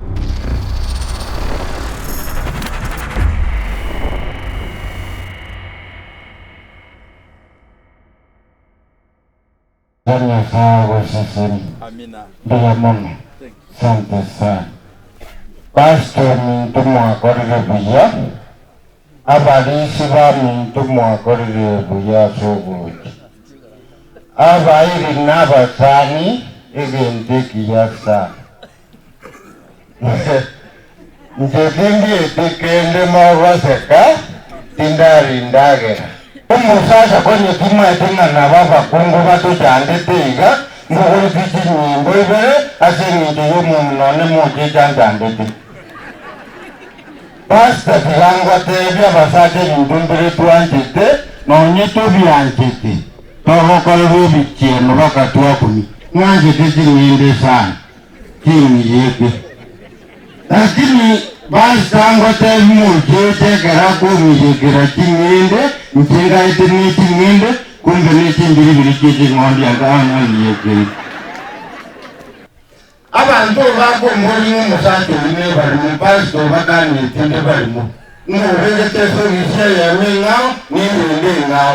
Thank you. Nyasaye agoseseni Amina. mbuya mono Thank you. sante sana pastor ominto mwakorire buya abarisi baminto mwakorire buya ase ogocha abairi nabasani egento ekiya sana Inche tindieti kende mogoseka, tindaria endagera. Omosacha konya timanyeti ng'a naba abakungu batochandete iga, mbogoreti chinyimbo ibere ase engencho y'omomura one mocha echanchandete. Pastor tiga ngotebie abasacha ebinto mbire twanchete, na onye tobianchete, togokorerwa ebichienu baka twakumia. Ng'anchete ching'ende sana. keng'iyete. Lakini bas tangotebi monto oche ekero akong'iyekera ching'ende inche ngaete ne ching'ende, kombe ne chimbiribiri chie ching'ondi aka ang'ang'iyekeri. Abanto bakomboria ng'a omosacha oyi nebarimo, bas tobakanetie nebarimo, ng'a oregete esogi esia y'eema eng'ao, ne eyende eng'ao.